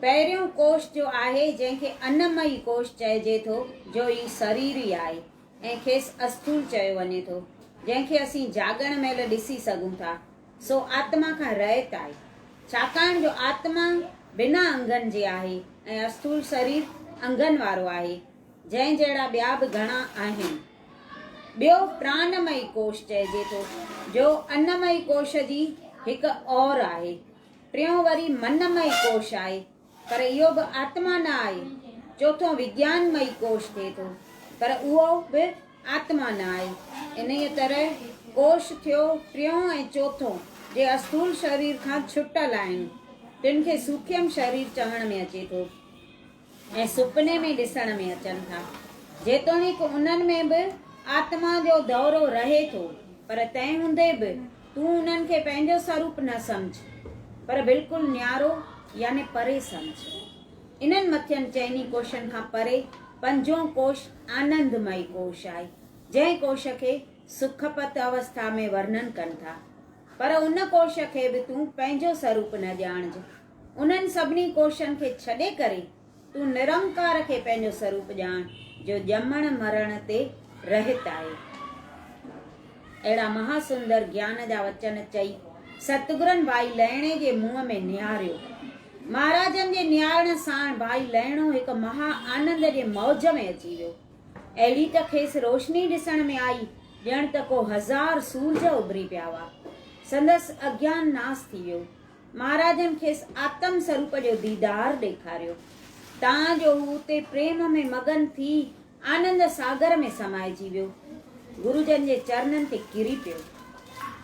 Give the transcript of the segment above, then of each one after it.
پهريون ڪوش جو آهي جنهن کي انمئي ڪوش چئجي ٿو جو هي سريري آهي ۽ کيس اسٿول چيو وڃي ٿو جنهن کي اسين جاڳڻ مهل ڏسي سگهون ٿا سو آتما کان رهت آهي ڇاڪاڻ جو آتما بنا انگن جي آهي ۽ اسٿول سرير انگن وارو آهي جنهن جهڙا ٻيا به گهڻا آهن. ٻيو پرانمئي ڪوش چئجي ٿو، جو انمئي ڪوش جي هڪ اور آهي. ٽيون وري منمئي ڪوش آهي، پر اهو به آتما نه آهي. چوٿون وگيانمئي ڪوش ٿئي ٿو، پر اهو به آتما نه آهي. انهيء طرح ڪوش ٿيو ٽيون ۽ چوٿون، جي اسٿول شرير کان ڇٽل آهن، تن کي سوکيم شرير چوڻ ۾ اچي ٿو. ۽ سپني ۾ ڏسڻ ۾ اچن ٿا. جيتوڻيڪ انهن ۾ به آتما جو دورو رهي ٿو، پر تنهن هوندي به تون انهن کي پنهنجو سروپ نه سمجهه، پر بلڪل نيارو يعني پري سمجهه. انهن مٿين چئني ڪوشن کان پري پنجون ڪوش آنندمئي ڪوش آهي، جنهن ڪوش کي سکپت اوسٿا ۾ ورنن ڪن ٿا. پر ان ڪوش کي به تون پنهنجو سروپ نه ڄاڻج. انهن سڀني ڪوششن کي ڇڏي ڪري تون نرنڪار کي پنهنجو سروپ ڄاڻ جو ڄمڻ مرڻ تي رهت آهي. اهڙا مها سندر گيان جا وچن چئي ستگرن ڀائي لهڻي جي منهن ۾ نهاريو. مهاراجن جي نهارڻ ساڻ ڀائي لهڻو هڪ مها آنند جي موج ۾ اچي ويو. اهڙي ته کيس روشني ڏسڻ ۾ آئي ڄڻ ته ڪو هزار سورج اڀري پيا هئا. سندس اگيان ناس ٿي ويو. مھاراجن کيس آتم سروپ جو ديدار ڏيکاريو، تان جو ھو اتي پريم ۾ مگن ٿي آنند ساگر ۾ سمائجي ويو. گرو جن جي چرنن تي ڪري پيو.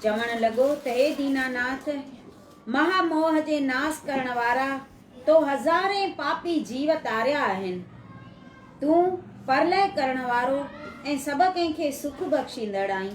چوڻ لڳو ته ھي ديناناٿ! مھا موھ جي ناس ڪرڻ وارا تو ھزارين پاپي جيو تاريا آھن. تون پرلئه ڪرڻ وارو ۽ سڀ ڪنھن کي سک بخشيندڙ آھين.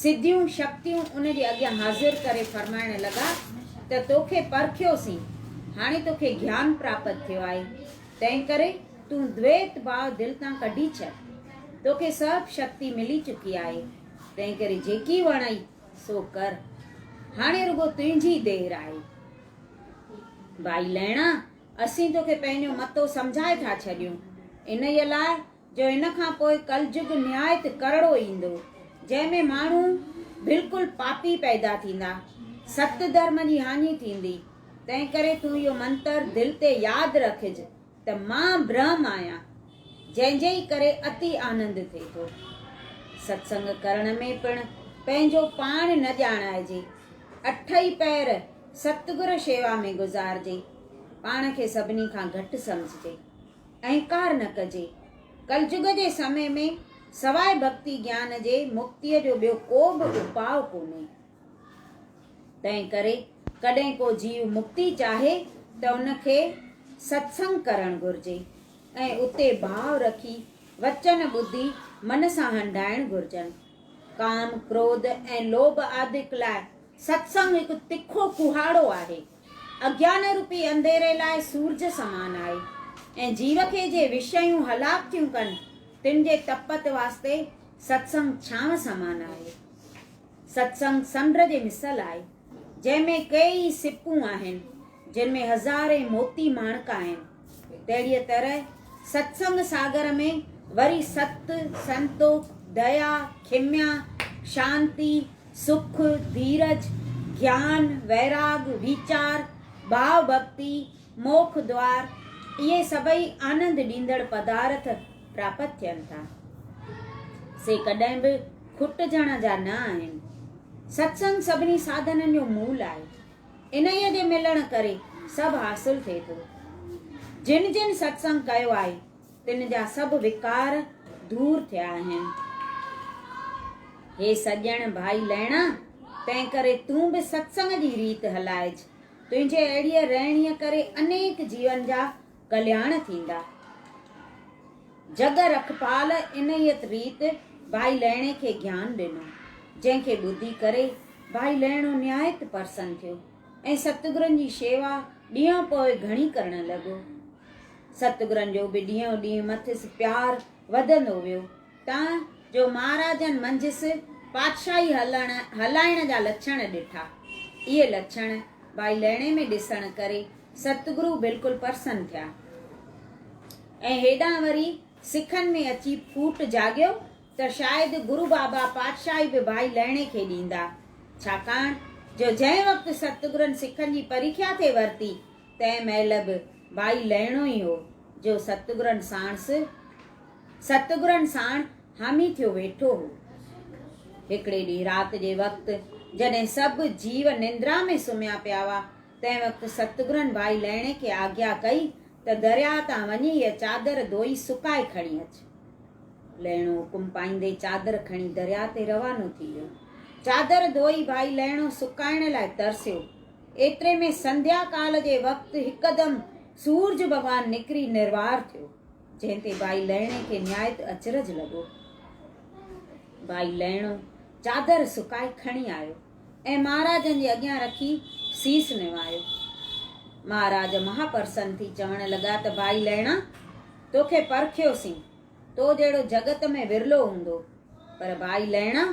سڌيون شڪتيون ان جي اڳيان حاضر ڪري فرمائڻ لڳا ته توکي پرکيوسين، هاڻي توکي گيان پراپت ٿيو آهي، تنهنڪري تون دويت ڀاء دل تان ڪڍي ڇڏ. توکي سڀ شڪتي ملي چڪي آهي، تنهنڪري جيڪي وڻئي سو ڪر. هاڻي رڳو تنهنجي دير آهي. ڀائي لهڻا، اسين توکي پنهنجو متو سمجهائي ٿا ڇڏيون، انهيء لاء جو هن کان پوء ڪلجگ نهايت ڪرڙو ايندو، جنهن ۾ ماڻهو بلڪل پاپي پيدا ٿيندا، ست ڌرم جي هاڃي ٿيندي، تنهنڪري تون اهو منتر دل تي ياد رکج ته مان برهم آهيان، جنهن جي ئي ڪري اتي آنند ٿئي ٿو. ستسنگ ڪرڻ ۾ پڻ پنهنجو پاڻ نه ڄاڻائجي، اٺ ئي پهر ستگر شيوا ۾ گذارجي، پاڻ کي سڀني کان گهٽ سمجهجي. انڪار نه ڪجي. ڪلجگ جي سمي ۾ سواء ڀڳتي گيان جي مڪتيء جو ٻيو ڪو به اپاء ڪونهي. تنهن ڪري ڪڏهن ڪو جيو مڪتي چاهي ته ان کي ستسنگ ڪرڻ گهرجي ۽ اتي ڀاء رکي وچن ٻڌي من سان هنڍائڻ گهرجن. ڪام، ڪروڌ ۽ لوڀ آدڪ لاء ستسنگ هڪ تکو ڪهاڙو آهي. اگيانروپي انڌيري لاء سورج سمان آهي ۽ جيرڪي جي وشيون هلاڪ ٿيون ڪن تن جي تپت واسطي ستسنگ ڇانو سمان آهي. ستسنگ سمنڊ جي مثل آهي جنهن ۾ ڪيئي سپون آهن جن ۾ هزارين موتي ماڻڪ آهن. تهڙيء طرح ستسنگ ساگر ۾ وري ست، سنتوک، ديا، کيميا، شانتي، سک، ڌيرج، گيان، ويراڳ، ويچار، ڀاء ڀڳتي، موک دوار، اهي سڀئي آنند ڏيندڙ پدارٿ پراپت ٿين ٿا. سي ڪڏهن به کٽجڻ جا نه آهن. ستسنگ سڀني ساڌنن جو مول آهي. انهيء جي ملڻ ڪري سڀ حاصل ٿئي ٿو. جن جن ستسنگ ڪيو آهي، تن جا سڀ وڪار دور ٿيا آهن. هي سڄڻ ڀائي لهڻا! تنهن ڪري تون به ستسنگ جي ريت هلائج. تنهنجي اهڙيء رهڻيء ڪري انيڪ جيون جا ڪلياڻ ٿيندا. جڳ رکپال انهيء ريت ڀائي لهڻي کي گيان ڏنو، جنهن کي ٻڌي ڪري ڀائي لهڻو نهايت پرسن ٿيو ۽ ستگرن جي شيوا ڏينهن پوء گهڻي ڪرڻ لڳو. ستگرن جو به ڏينهون ڏينهن مٿس پيار وڌندو ويو، تان جو مهاراجن منجهس پادشاهي هلائڻ جا لڇڻ ڏٺا. اهي لڇڻ ڀائي لهڻي ۾ ڏسڻ ڪري ستگرو بلڪل پرسن ٿيا ۽ هيڏانهن وري سکن ۾ اچي ڦوٽ جاڳيو ته شايد گرو بابا پاتشاهي به ڀائي لهڻي کي ڏيندا، ڇاڪاڻ جو جنهن وقت ستگرن سکن جي پريکيا ٿي ورتي تنهن مهل به ڀائي لهڻو ئي هو جو ستگرن ساڻس ستگرن ساڻ حامي ٿيو ويٺو هو. هڪڙي ڏينهن رات جي وقت جڏهن سڀ جيو نندرا ۾ سمهيا پيا هئا تنهن وقت ستگرن ڀائي لهڻي کي آگيا ڪئي ته درياهه تان وڃي هيء چادر ڌوئي سڪائي کڻي اچ. لهڻو حڪم پائيندي چادر کڻي درياهه تي روانو ٿي ويو. چادر ڌوئي ڀائي لهڻو سڪائڻ لاء ترسيو. ايتري ۾ سنڌيا ڪال جي وقت هڪدم سورج ڀڳوان نڪري نروار ٿيو، جنهن تي ڀائي لهڻي کي نهايت اچرج لڳو. ڀائي لهڻو چادر سڪائي کڻي آيو. ۽ مهاراجن جي اڳيان رکي سيس نوايو. مهاراج مها پرسن ٿي چوڻ لڳا ته ڀائي لهڻا! توکي پرکيوسين، تو جهڙو جڳت ۾ ورلو هوندو. پر ڀائي لهڻا!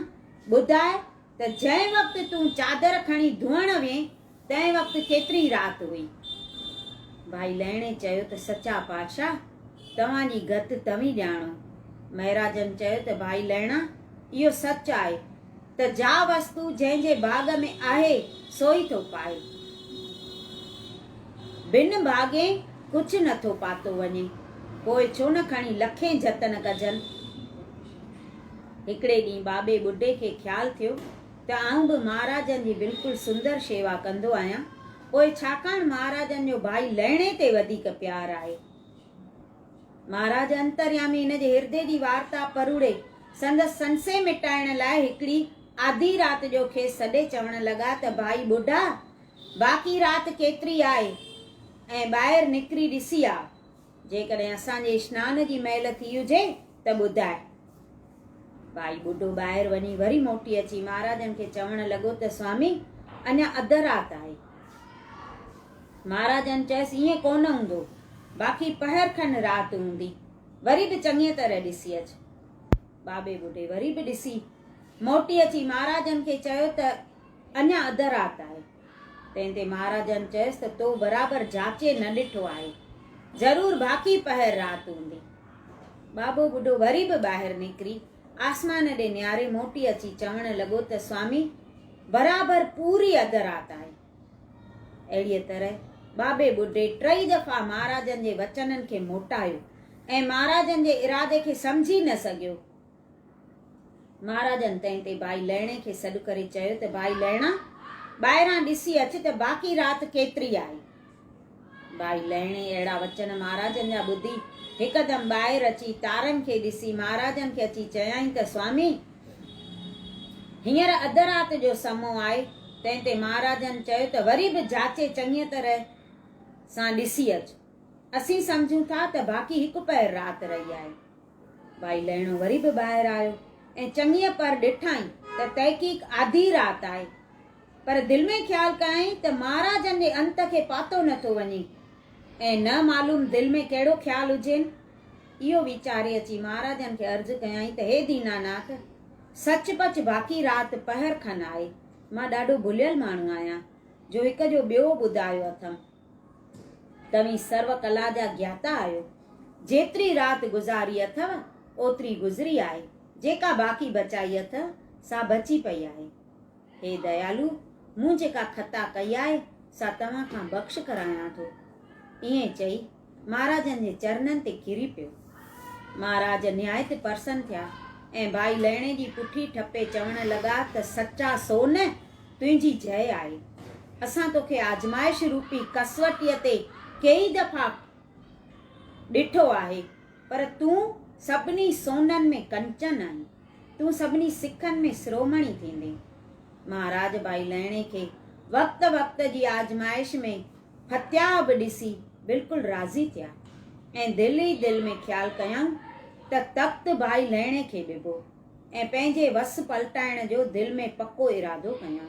ٻڌاء ته جنهن وقت تون چادر کڻي ڌوئڻ وئين، تنهن وقت ڪيتري رات هئي؟ ڀائي لهڻي چيو ته سچا پاتشاهه توهان جي گت توهين ڄاڻو. مهراجن چيو ته ڀائي لهڻا اهو سچ آهي ته جا وستو جنهن جي ڀاڳ ۾ آهي سو ئي ٿو پائي. بن ڀاڳين ڪجهه نه ٿو پاتو وڃي. پوء ڇو نه کڻي لکين جتن ڪجن. هڪڙي ڏينهن ٻاٻي ٻڍي کي خيال ٿيو ته آئون به مهاراجن جي بلڪل سندر شيوا ڪندو آهيان، پوء ڇاڪاڻ مهاراجن جو ڀائي لهڻي تي وڌيڪ پيار آهي. مهاراج انتريامي هن جي هردي جي وارتا پروڙي، سندس سنسي مٽائڻ لاء هڪڙي آڌي رات جو کيس سڏي چوڻ لڳا ته ڀائي ٻڍا! باقي رات ڪيتري آهي ۽ ٻاهر نڪري ڏسي آء. جيڪڏهن اسان جي اشنان جي مهل ٿي هجي ته ٻڌاء. ڀائي ٻڍو ٻاهر وڃي وري موٽي اچي مهاراجن کي چوڻ لڳو ته سوامي اڃا اڌ رات آهي. مهاراجن چيس ائين ڪونه هوندو، باقي پهر کن رات هوندي، وري به چڱيء طرح ڏسي اچ. ٻاٻي ٻڍي وري به ڏسي موٽي اچي مهاراجن کي چيو ته اڃا اڌ رات آهي. تنهن تي مهاراجن چيس ته تو برابر جاچي نه ڏٺو آهي ضرور باقي پهر رات هوندي بابو ٻڍو وري به ٻاهر نڪري آسمان ڏي نياري موٽي اچي چوڻ لڳو ته سوامي برابر پوري اڌ رات آهي اهڙيء طرح بابي ٻڍي ٽئي دفعا مهاراجن جي وچنن کي موٽايو ۽ مهاراجن جي ارادي کي سمجهي نه سگهيو مھاراجن تنهن تي ڀائي لهڻي کي سڏ ڪري چيو ته ڀائي لهڻا ٻاهران ڏسي اچ ته باقي رات ڪيتري آهي ڀائي لهڻي اهڙا وچن مھاراجن جا ٻڌي هڪدم ٻاهر اچي تارن کي ڏسي مھاراجن کي اچي چيائين ته سوامي هينئر اڌ رات جو سمو آهي تنهن تي مھاراجن چيو ته وري به جاچي چڱيء طرح سان ڏسي اچ اسين سمجهون ٿا ته باقي هڪ پهر رات رهي آهي ڀائي لهڻو وري به ٻاهر آيو ۽ چڱيء پر ڏٺائين ته تحقيق آڌي رات آهي، پر دل ۾ خيال ڪيائين ته مهاراجن جي انت کي پاتو نه ٿو وڃي ۽ نه معلوم دل ۾ ڪهڙو خيال هجين. اهو ويچاري اچي مهاراجن کي عرض ڪيائين ته هي ديناناٿ! سچ پچ باقي رات پهر کن آهي، مان ڏاڍو ڀليل ماڻهو آهيان، جو هڪ جو ٻيو ٻڌايو اٿم. توهين سرو ڪلا جا گياتا آهيو. جيتري رات گذاري اٿئو، اوتري گذري آهي. جيڪا باقي بچائي اٿئو، سا بچي پئي آهي. هي ديالو! مون جيڪا خطا ڪئي آهي، سا توهان کان بخش ڪرايان ٿو. ائين چئي، مهاراجن جي چرنن تي ڪري پيو. مهاراج نهايت پرسن ٿيا ۽ ڀائي لهڻي جي پٺي ٺپي چوڻ لڳا ته سچا سو نه! تنهنجي جئي آهي. اسان توکي آزمائش روپي ڪسوٽيء تي ڪيئي دفعا ڏٺو آهي، پر تون سڀني سونهن ۾ ڪنچن آهين. تون سڀني سکن ۾ سرومڻي ٿيندين. مهاراج ڀائي لهڻي کي وقت وقت جي آزمائش ۾ ڦتياء به ڏسي بلڪل راضي ٿيا ۽ دل ئي دل ۾ خيال ڪيائون ته تخت ڀائي لهڻي کي ڏبو. ۽ پنهنجي وس پلٽائڻ جو دل ۾ پڪو ارادو ڪيان.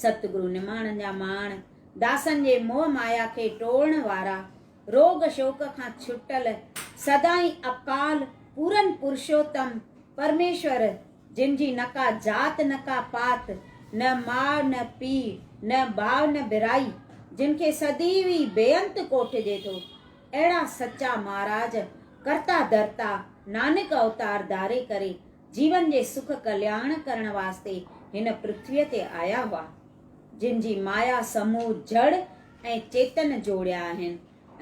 ست گرو نماڻن جا ماڻ، داسن جي موهه مايا کي ٽوڙڻ وارا، روڳ شوڪ کان ڇٽل، سدائين اڪال پورن پرشوتم پرميشور، جن جي نه ڪا ذات نه ڪا پات، نه ماء نه پيء، نه ڀاء نه ڀرائي، جن کي سديوي بيانت ڪوٺجي ٿو. اهڙا سچا مهاراج ڪرتا ڌرتا نانڪ اوتار ڌاري ڪري جيون جي سک ڪلياڻ ڪرڻ واسطي هن پرٿويء تي آيا هئا، جن جي مايا سمون جڙ ۽ چيتن جوڙيا آهن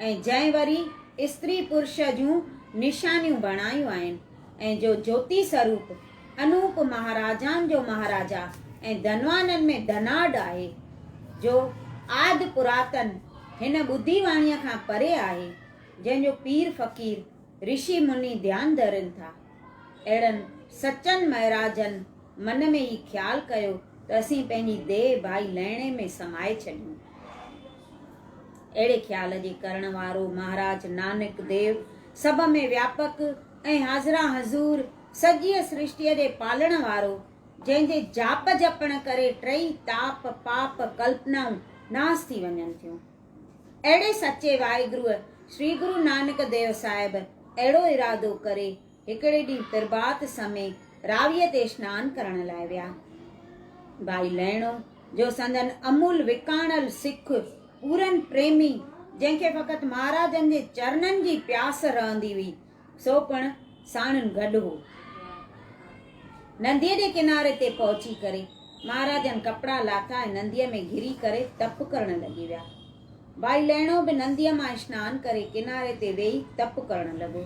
۽ جنهن وري استري پرش جون نشانيون بڻايون آهن ۽ جو جوتي سروپ انوپ مهاراجائن جو مهاراجا ۽ ڌنوانن ۾ ڌناڍ آهي، جو آڌ پراتن هن ٻڌي واڻيء کان پري آهي، جنهن جو پير فقير، رشي مني ڌيان ڌرين ٿا. اهڙن سچن مهراجن من ۾ هي خيال ڪيو ته اسين پنهنجي ديهه ڀائي لهڻي ۾ سمائي ڇڏيون. اهڙي خيال جي ڪرڻ وارو مهاراج نانڪ ديو سڀ ۾ وياپڪ، ۽ حاضران حضور سڄيء سرشٽيء جي پالڻ وارو، جنهن جي جاپ جپڻ ڪري ٽئي تاپ، پاپ، ڪلپنائون ناس ٿي وڃن ٿيون. اهڙي سچي واحگروء شري گرو نانڪ ديو صاحب اهڙو ارادو ڪري هڪڙي ڏينهن پرڀات سمي راويء تي سنان ڪرڻ لاء ويا. ڀائي لهڻو. جو سندن امول وڪاڻل سک پورن پريمي، جنهن کي فقط مهاراجن جي چرنن جي پياس رهندي هئي، سو پڻ ساڻن گڏ هو. ننديء جي ڪناري تي پهچي ڪري، مهاراجن ڪپڙا لاٿا ۽ ننديء ۾ گهري ڪري تپ ڪرڻ لڳي ويا. ڀائي لهڻو به ننديء مان اشنان ڪري ڪناري تي ويهي تپ ڪرڻ لڳو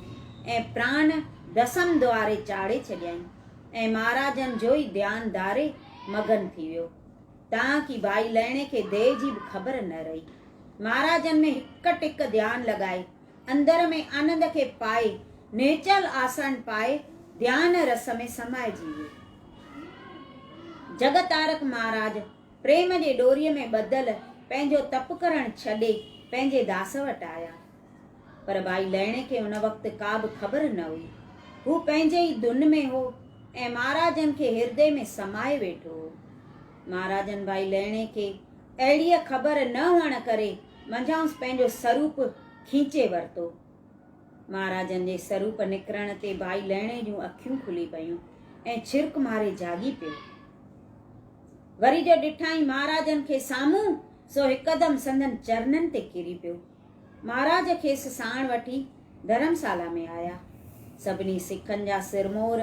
۽ پراڻ ڀسم دواري چاڙهي ڇڏيائين ۽ مهاراجن جو ئي ڌيان ڌاري مگن ٿي ويو، تان ڪي ڀائي لئڻي کي ديء جي به خبر نه رهي. مهاراجن ۾ هڪ ٽڪ ڌيان لڳائي، اندر ۾ آنند کي پائي، نهچل آسن پائي، ڌيان رس ۾ سمائجي ويو. جڳ تارڪ مهاراج پريم جي ڏوريء ۾ ٻڌل پنهنجو تپ ڪرڻ ڇڏي، پنهنجي داس وٽ آيا. پر ڀائي لهڻي کي ان وقت ڪا به خبر نه هئي. هو پنهنجي ئي ڌن ۾ هو ۽ مهاراجن کي هردي ۾ سمائي ويٺو هو. مهاراجن ڀائي لهڻي کي اهڙيء خبر نه هئڻ ڪري منجهانئس پنهنجو سروپ کينچي ورتو. مهاراجن جي سروپ نڪرڻ تي ڀائي لهڻي جون اکيون کلي پيون ۽ ڇرڪ ماري جاڳي پيو. وري جو ڏٺائين مهاراجن کي سامهون، سو هڪدم سندن چرنن تي ڪري پيو. مھاراج کيس ساڻ وٺي ڌرمسالا ۾ آيا. سڀني سکن جا سرمور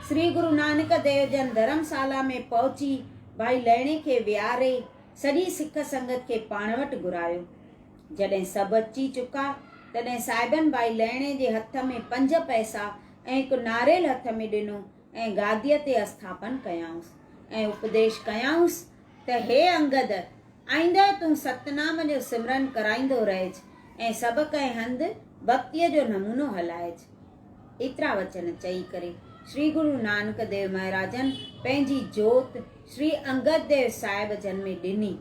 سري گرو نانڪ ديو جن ڌرمسالا ۾ پهچي ڀائي لهڻي کي ويهاري سڄي سک سنگت کي پاڻ وٽ گهرايو. جڏهن سڀ اچي چڪا تڏهن صاحبن ڀائي لهڻي جي هٿ ۾ پنج پئسا ۽ هڪ ناريل هٿ ۾ ڏنو ۽ گاديء تي اسٿاپن ڪيائونس ۽ اپديش ڪيائونس ته هي انگد! آئنده تون ستنام جو سمرن ڪرائيندو رهج ۽ سڀ ڪنهن هنڌ ڀڳتيء جو نمونو هلائج. ايترا وچن چئي ڪري شري گرو نانڪ ديو مهاراجن پنهنجي جوت شري انگد ديو صاحب جن ۾ ڏني.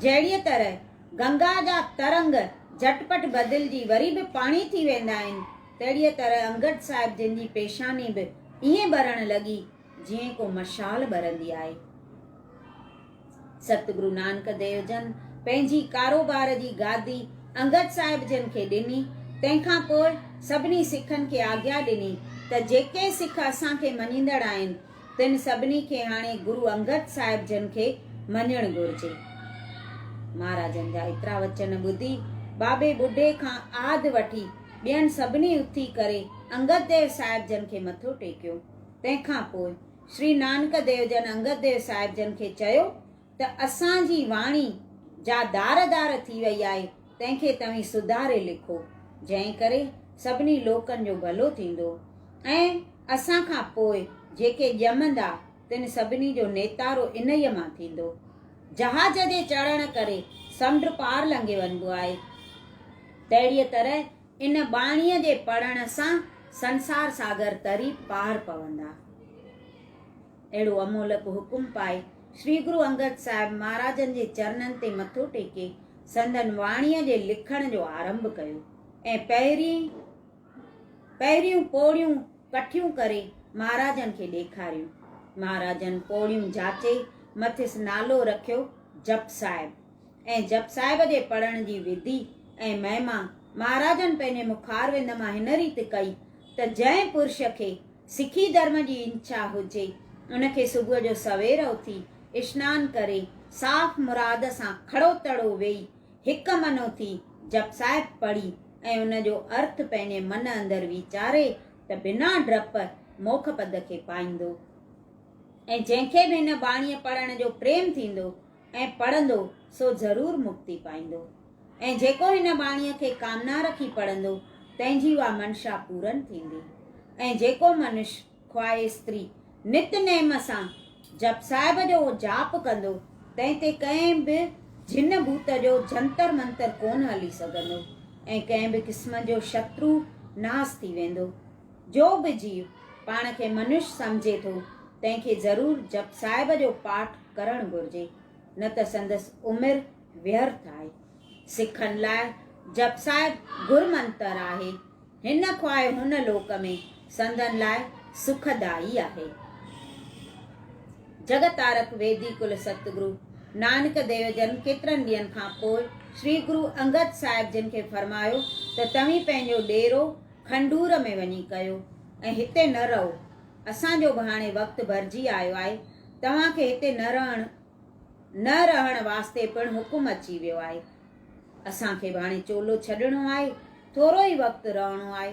جهڙيء طرح گنگا جا ترنگ جهٽ پٽ بدلجي وري به پاڻي ٿي ويندا آهن، تهڙيء طرح انگد صاحب جن جي پيشاني به ائين ٻرڻ لڳي جيئن ڪو مشال ٻرندي آهي. ستگرو نانڪ ديو جن پنهنجي ڪاروبار جي گادي انگد صاحب جن کي ڏني، تنهن کان پوء سڀني سکن کي آگيا ڏني ته جيڪي سک اسان کي مڃيندڙ آهن، تن سڀني کي هاڻي گرو انگد صاحب جن کي مڃڻ گهرجي. مهاراجن جا ايترا وچن ٻڌي بابي ٻڍي کان آڌ وٺي ٻين سڀني اٿي ڪري انگد ديو صاحب جن کي مٿو ٽيڪيو. تنهن کان پوء شري نانڪ ديو جن انگد ديو صاحب جن کي چيو ته اسان جي واڻي جا دار دار ٿي وئي آهي تنهن کي توهين سڌاري لکو جنهن ڪري سڀني لوڪن جو ڀلو ٿيندو ۽ اسان کان پوء جيڪي ڄمندا تن سڀني جو نيتارو انهيء مان ٿيندو. جهاز جي چڙهڻ ڪري سمنڊ پار لنگهي وڃبو آهي تهڙيء طرح ان ٻاڻيء جي پڙهڻ سان سنسار ساگر تري پار پوندا. اهڙو امولڪ حڪم پائي شري گرو انگد صاحب مهاراجن جي چرنن تي مٿو ٽيڪي سندن واڻيء جي لکڻ جو آرنڀ ڪيو ۽ پهرين پهريون پوڙهيون ڪٺيون ڪري مهاراجن کي ڏيکاريون. مهاراجن پوڙهيون جاچي مٿس نالو رکيو جپ صاحب. ۽ جپ صاحب جي پڙهڻ جي وڌي ۽ مهما مهاراجن پنهنجي مکاروند مان هن ريت ڪئي ته جنهن پرش کي سکي ڌرم جي انچا هجي ان کي صبح جو سوير اٿي اشنان ڪري صاف مراد سان کڙو تڙو ويهي هڪ من اٿي جپ صاحب پڙهي ۽ ان جو ارٿ پنهنجي من اندر ويچاري ته بنا ڊپ موکپد کي پائيندو ۽ جنهن کي به هن ٻاڻيء پڙهڻ جو پريم ٿيندو ۽ پڙهندو سو ضرور مڪتي پائيندو ۽ جيڪو هن ٻاڻيء کي ڪامنا رکي پڙهندو تنهن جي اها منشا پورن ٿيندي ۽ جيڪو منش خواهه استري نت نيم سان جپ صاحب جو جاپ ڪندو تنهن تي ڪنهن به جن ڀوت جو جنتر منتر ڪونه هلي سگهندو ۽ ڪنهن به قسم جو شترو ناس ٿي ويندو جو به جيو پاڻ کي منش سمجهي ٿو تنهن کي ضرور جپ صاحب جو پاٺ ڪرڻ گهرجي، نه ته سندس عمر ويرٿ آهي. سکن لاء جپ صاحب گر منتر آهي. هن خواهه هن لوڪ ۾ سندن لاء سکدائي آهي. جڳ تارڪ ويدي ڪل ستگرو نانڪ ديو جن ڪيترن ڏينهن کان پوء شري گرو انگد صاحب جن کي فرمايو ته توهين پنهنجو ڏيرو کنڊور ۾ وڃي ڪيو ۽ هتي نه رهو. اسان جو به هاڻي وقت ڀرجي آيو آهي، توهان کي هتي نه رهڻ نه رهڻ واسطي پڻ حڪم اچي ويو آهي. اسان کي به هاڻي چولو ڇڏڻو آهي، ٿورو ئي وقت رهڻو آهي.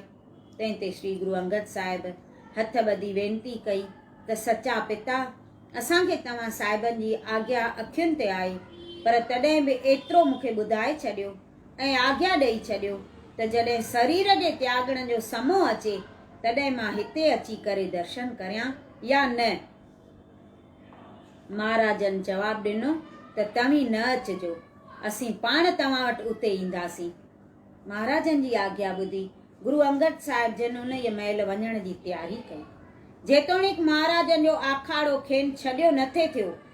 تنهن تي شري گرو انگد صاحب هٿ ٻڌي وينتي ڪئي ته سچا پتا اسان کي توهان صاحبن جي آگيا اکين تي آهي، پر تڏهن به ايترو مون کي ٻڌائي ڇڏيو ۽ آگيا ڏئي ڇڏيو ته جڏهن سرير جي تياڳڻ جو سمو اچي تڏهن مان هتي اچي ڪري درشن ڪريان يا نه؟ مهاراجن جواب ڏنو ته توهين نه اچجو، اسين پاڻ توهان وٽ اتي اينداسين. مهاراجن جي آگيا ٻڌي گرو انگد صاحب جن انهيء مهل وڃڻ جي تياري ڪئي. جيتوڻيڪ مهاراجن جو آکاڙو کين ڇڏيو نٿي ٿيو،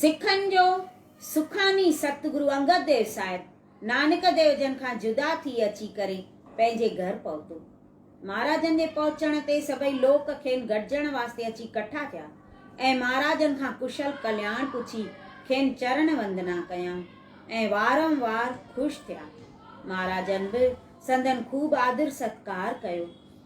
سکن جو سخاڻي ستگرو انگد ديو صاحب نانڪ ديو جن کان جدا ٿي اچي ڪري پنهنجي گهر پهتو. مهاراجن جي پهچڻ تي سڀئي لوڪ کين گڏجڻ واسطي اچي ڪٺا ٿيا ۽ مهاراجن کان ڪشل ڪلياڻ پڇي کين چرڻ وندنا ڪيائون ۽ وارم وار خوش ٿيا. مهاراجن به سندن خوب آدر ستڪار ڪيو.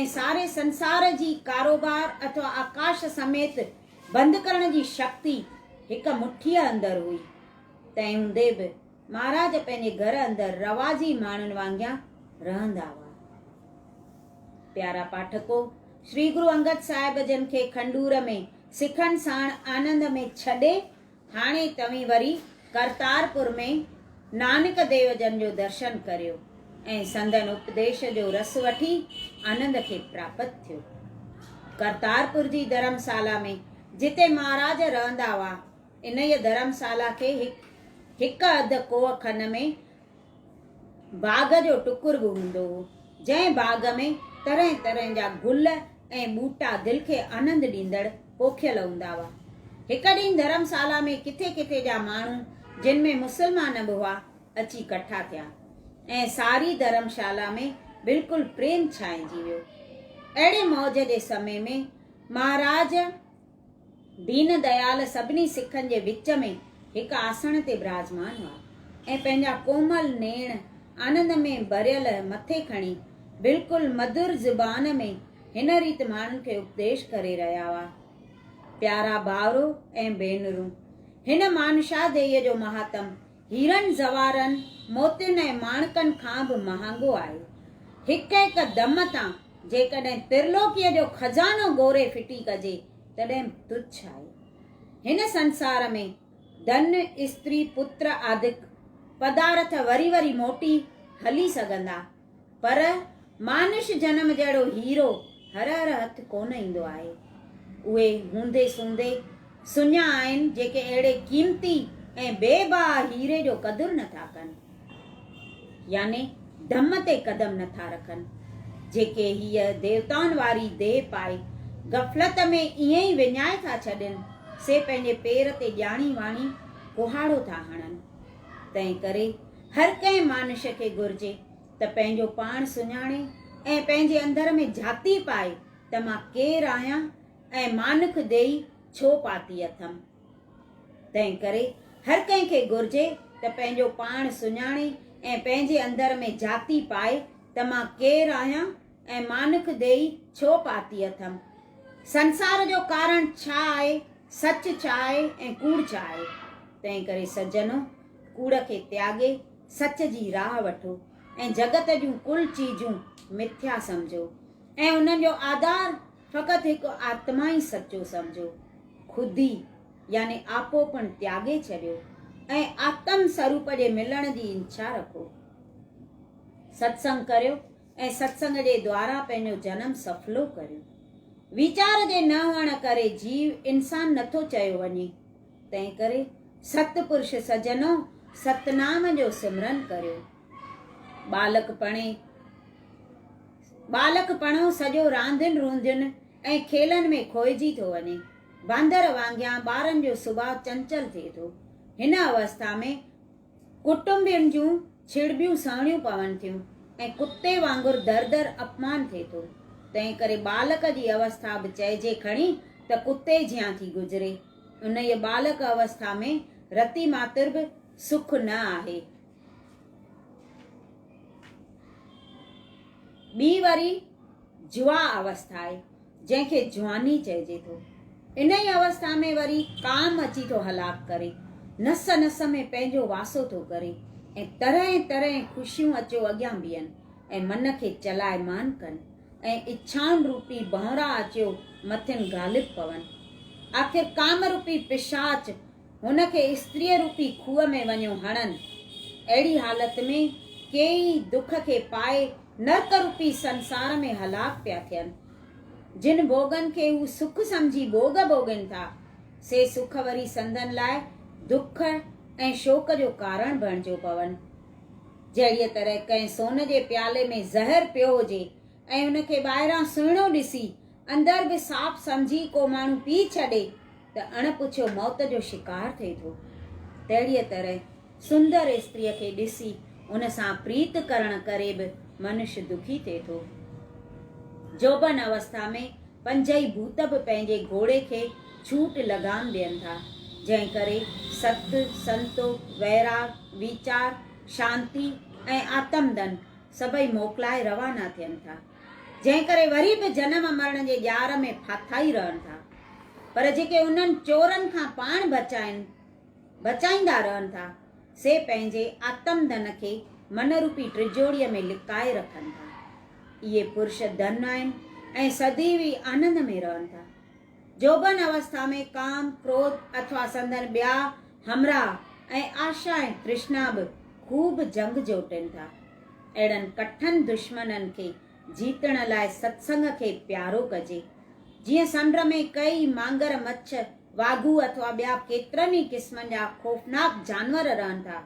۽ ساري سنسار جي ڪاروبار اٿوا آڪاش سميت بند ڪرڻ جي شڪتي هڪ مٺيء اندر هئي. تنهن هوندي به مهاراج پنهنجي گهر اندر رواجي ماڻهن وانگيان رهندا هئا. پيارا پاٺڪو! شري گرو انگد صاحب جن کي کنڊور ۾ سکن ساڻ آنند ۾ ڇڏي هاڻي توهين وري ڪرتارپور ۾ نانڪ ديو جن جو درشن ڪريو ۽ سندن اپديش جو رس وٺي آنند کي پراپت ٿيو. ڪرتارپور جي ڌرمسالا ۾ جتي مهاراج رهندا هئا، انهيء ڌرمسالا کي هڪ هڪ اڌ ڪوهه کن ۾ باغ جو ٽڪر به هوندو هو، جنهن باغ ۾ طرح طرح جا گل ۽ ٻوٽا دل کي آنند ڏيندڙ پوکيل هوندا هئا. هڪ ڏينهن ڌرمسالا ۾ ڪٿي ڪٿي جا ماڻهو جن ۾ مسلمان به هئا اچي ڪٺا ٿيا ۽ ساري ڌرمشالا ۾ بلڪل پريم ڇانئجي ويو. اهڙي موج جي سمي ۾ مهاراج. دين ديال سڀني سکن جي وچ ۾ هڪ آسڻ تي براجمان هئا ۽ پنهنجا ڪومل نيڻ آنند ۾ ڀريل مٿي کڻي بلڪل مڌر زبان ۾ هن ريت ماڻهن کي اپديش ڪري رهيا هئا، پيارا ڀائرو ۽ ڀينرون! هن مانشاهديء جو مهاتم هيرن زوارن، موتين ۽ ماڻڪن کان به مهانگو آهي. هڪ هڪ دم تان جيڪڏهن ترلوڪيء جو خزانو ڳوري ڦٽي ڪجي تڏهن به تڇ آهي. هن سنسار ۾ ڌن، استري، پتر آدڪ پدارٿ وري وري موٽي هلي سگهندا. پر مانش جنم جهڙو هيرو هر هر هٿ ڪونه ايندو آهي. اهي هوندي سوندي سڃا آهن جيڪي اهڙي قيمتي ۽ بي بها هيري جو قدر نه ٿا ڪن. يعني ڌم تي قدم نه ٿا رکن. جيڪي هيء ديوتائن واري ديهه پائي غفلت ۾ ائين ئي وڃائي ٿا ڇڏين، سي پنهنجي پير تي ڄاڻي واڻي ڪهاڙو ٿا هڻن. تنهن ڪري هر ڪنهن مانش کي گهرجي ته پنهنجو پاڻ سڃاڻي ۽ پنهنجي اندر ۾ جهاتي پائي ته مان ڪير آهيان ۽ مانک ديئي ڇو پاتي اٿم. تنهن ڪري هر ڪنهن کي گهرجي ته پنهنجو پاڻ سڃاڻي ۽ پنهنجي اندر ۾ جهاتي پائي ته مان ڪير آهيان ۽ مانک ديئي ڇو پاتي اٿم. سنسار جو ڪارڻ ڇا آهي، سچ ڇا آهي ۽ ڪوڙ ڇا آهي. تنهن ڪري سجنو! ڪوڙ کي تياڳي سچ جي راهه وٺو ۽ جڳت جون ڪل چيزون مٿيا سمجهو ۽ انهن جو آڌار فقط هڪ آتما ئي سچو سمجهو. خودي يعني آپوپڻ تياڳي ڇڏيو ۽ آتم سروپ جي ملڻ جي انڇا رکو. ستسنگ ڪريو ۽ ستسنگ جي دوارا پنهنجو جنم سڦلو ڪريو. ويچار جي نه هئڻ ڪري جيو انسان نٿو چيو وڃي تنهنڪري ست پرش سجنو ستنام جو سمرن ڪريو. ٻالڪپڻي، ٻالڪپڻو سڄو راندين روندين ۽ کيلن ۾ کوئجي ٿو وڃي. باندر وانگيان ٻارن جو سڀاء چنچل ٿئي ٿو. هن اوسٿا ۾ ڪٽنبين جون ڇڙٻيون سهڻيون پون ٿيون ۽ ڪتي وانگر در در اپمان ٿئي ٿو. تنهنڪري ٻالڪ جي اوسٿا به چئجي کڻي ته ڪتي جيان ٿي گذري. انهيء ٻالڪ اوسٿا ۾ رتي ماتر به سک نه آهي. ٻي وري جوا اوسٿا آهي، جنهن کي جواني چئجي ٿو. انهيء اوسٿا ۾ وري ڪام اچي ٿو هلاڪ ڪري، نس نس ۾ پنهنجو واسو ٿو ڪري ۽ طرحين طرحين خوشيون اچو اڳيان بيهن ۽ من کي چلائمان ڪن. ۽ اڇائن روپي ڀؤنرا اچيو مٿين غالب پون. آخر ڪام روپي پشاچ هن کي استريء روپي کوهه ۾ وڃيو هڻن. اهڙي حالت ۾ ڪي ئي دک کي پائي نرڪ روپي سنسار ۾ هلاڪ پيا ٿين. جن ڀوڳن کي هو سک سمجهي ڀوڳ ڀوڳين ٿا، سي سک وري سندن لاء دک ۽ شوڪ جو ڪارڻ بڻجيو پون. جهڙيء طرح ڪنهن سون جي پيالي ۾ زهر پيو هجي ۽ ان کي ٻاهران سهڻو ڏسي اندر به صاف سمجهي ڪو ماڻهو پي ڇڏي ته اڻ پڇيو موت جو شڪار ٿئي ٿو، تهڙيء طرح سندر استريء کي ڏسي ان سان پريت ڪرڻ ڪري به منش دکي ٿئي ٿو. جوڀن اوسٿا ۾ پنجئي ڀوت به پنهنجي گهوڙي کي ڇوٽ لگام ڏين ٿا، جنهن ڪري ست، سنتو، ويراڳ، ويچار، شانتي ۽ آتم دن سڀئي موڪلائي روانا ٿين ٿا، جنهن ڪري وري به جنم مرڻ جي ڄار ۾ ڦاٿائي رهن ٿا، پر جيڪي انهن چورن کان پاڻ بچائين، بچائيندا رهن ٿا، سي پنهنجي آتم ڌن کي من روپي ٽجوڙيء ۾ لڪائي رکن ٿا. اهي پرش ڌن آهن ۽ سديوي آنند ۾ رهن ٿا. جوڀن اوسٿا ۾ ڪام، ڪروڌ اٿوا سندن ٻيا همراهه ۽ آشا ۽ ترشنا به خوب جنگ جوٽين ٿا. اهڙن ڪٺن دشمنن کي جيتڻ لاء ستسنگ کي پيارو ڪجي. جيئن سنڊ ۾ ڪئي مانگر مڇ واگهو اٿوا ٻيا ڪيترن ئي قسمن جا خوفناڪ جانور رهن ٿا